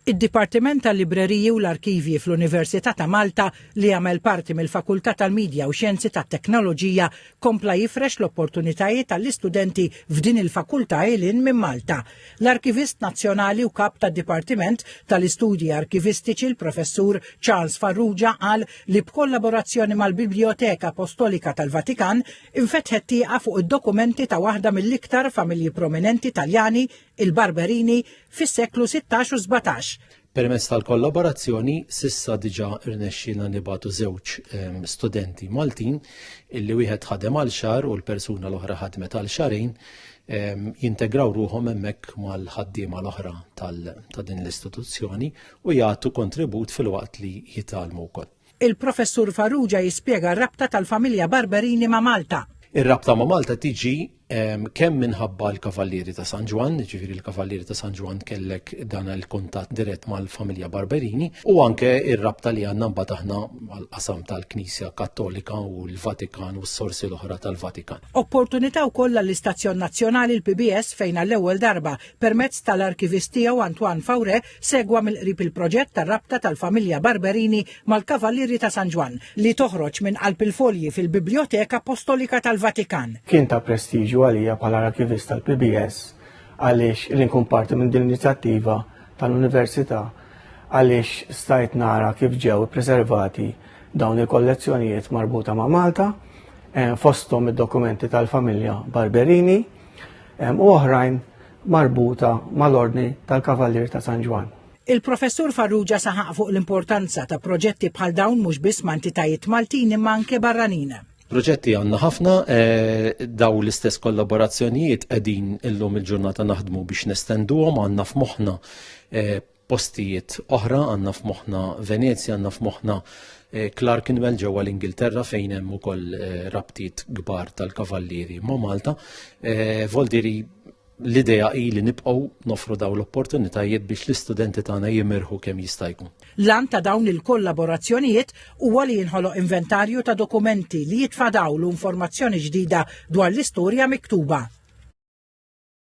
Id-Dipartiment tal-Libreriji u l-Arkivji fl-Università ta' Malta, li jagħmel parti mill-Fakultà tal-Midja u Xjenzi tat-Teknoloġija, kompla jifrex l-opportunitajiet għall-istudenti f'din il-fakultà il hinn minn Malta. L-Arkivist Nazzjonali u Kap tad-Dipartiment tal-Istudji Arkivistiċi l-Professur Charles Farrugia qal li b'kollaborazzjoni mal-Bibljoteka Apostolika tal-Vatikan infetħet tieqa fuq id-dokumenti ta' waħda mill-iktar familji prominenti Taljani il-Barberini fis-seklu sittax u sbatax. Permezz tal-kollaborazzjoni s'issa diġà rnexxielna nibagħtu żewġ ehm, studenti Maltin illi wieħed ħadem għal xahar u l-persuna l-oħra ħadmet għal xarejn ehm, jintegraw ruhom hemmhekk mal-ħaddiema l-oħra ta' din l-istituzzjoni u jagħtu kontribut filwaqt li jitalmu wkoll. Il-Professur Farrugia jispjega r-rabta tal-familja Barberini ma' Malta. Ir-rabta ma' Malta tiġi kemm minħabba l-Kavallieri ta' San Ġwann, ġifieri l-Kavallieri ta' San Ġwann kellek dan il-kuntatt dirett mal-familja Barberini, u anke ir-rabta li għandna mbagħad aħna mal-qasam tal-Knisja Kattolika u l-Vatikan u s-sorsi l-oħra tal-Vatikan. Opportunità wkoll għall-istazzjon nazzjonali l-PBS fejn għall-ewwel darba, permezz tal-arkivistiegħu Antoine Faure, Segwa mill-qrib il-proġett tar-rabta tal-familja Barberini mal-Kavallieri ta' San Ġwann, li toħroġ minn qalb il-folji fil-Bibljoteka Appostolika tal-Vatikan. Kien ta' prestiġju għalija bħala arkivist tal-PBS għaliex li nkun parti minn din l-inizjattiva tal-Università għaliex stajt nara kif ġew ippreservati dawn il-kollezzjonijiet marbuta ma' Malta, eh, fosthom id-dokumenti tal-familja Barberini eh, u oħrajn marbuta mal-Ordni tal-Kavallier ta' San Ġwann. Il-Professur Farrugia saħaq fuq l-importanza ta' proġetti bħal dawn mhux biss ma' entitajiet Maltin imma anke barranin. Proġetti għandna ħafna eh, daw l-istess kollaborazzjonijiet qegħdin illum il-ġurnata naħdmu biex nestenduhom għandna f'moħħna eh, postijiet oħra, għandna f'moħħna Venezja, għandna f'moħħna eh, Clerkenwell ġewwa l-Ingilterra fejn hemm ukoll eh, rabtiet kbar tal-kavallieri ma' Malta. Eh, Voldiri l-idea hi li nibqgħu nofru daw l-opportunitajiet biex l-istudenti tagħna jimirħu kemm jista' jkun. Lan ta' dawn il-kollaborazzjonijiet huwa li jinħoloq inventarju ta' dokumenti li jitfadaw l-informazzjoni ġdida dwar l-istorja miktuba.